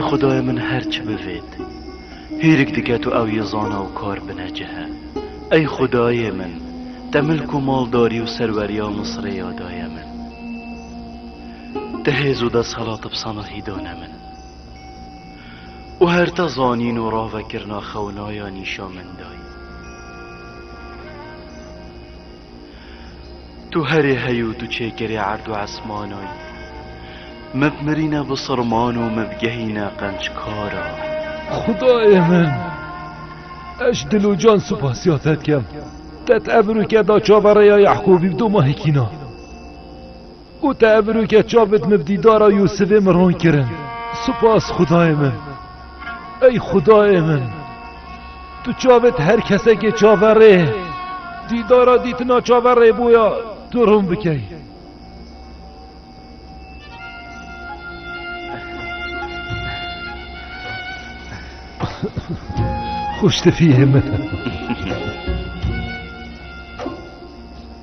Xwedayê min her çi bivêt, hêrik diket û ew yê zana û kar binecihe. Ey Xwedayê min, te milk û maldarî û serweriya Misirê ya daye min. Te hêz û deshelat bi sanahî dane min. Û her te zanîn û ravekirina xewinaya nîşa min dayî. Tu herê hey û tu çêkerê erd û esmana yî. Me bmirîne bi sirman û me bigehîne qençkara. Xwedayê min! Ez dil û can supasiya te dikim. Te tevir û keda çaverêya Yehkûbî bi domahê kîna. Û te evirûke çavêt min bi dîdara Yûsivê min ron kirin. Spas xudayê min! Ey xudayê min! Tu çavêt her kesekê çaverê dîdara dîtina çaverê boya tu ron bikey. Xwiştifiyê min!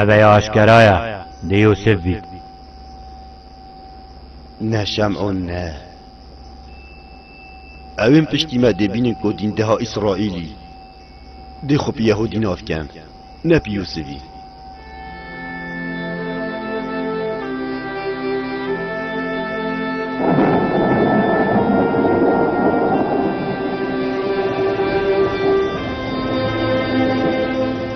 Eve ya aşkera ye, dê Yûsif bît. Ne Şem'ûn ne. Ew ên piştî me dê bînin ku dîndeha Îsraîlî dê xwe bi Yehûdî nav ken, ne bi Yûsifî.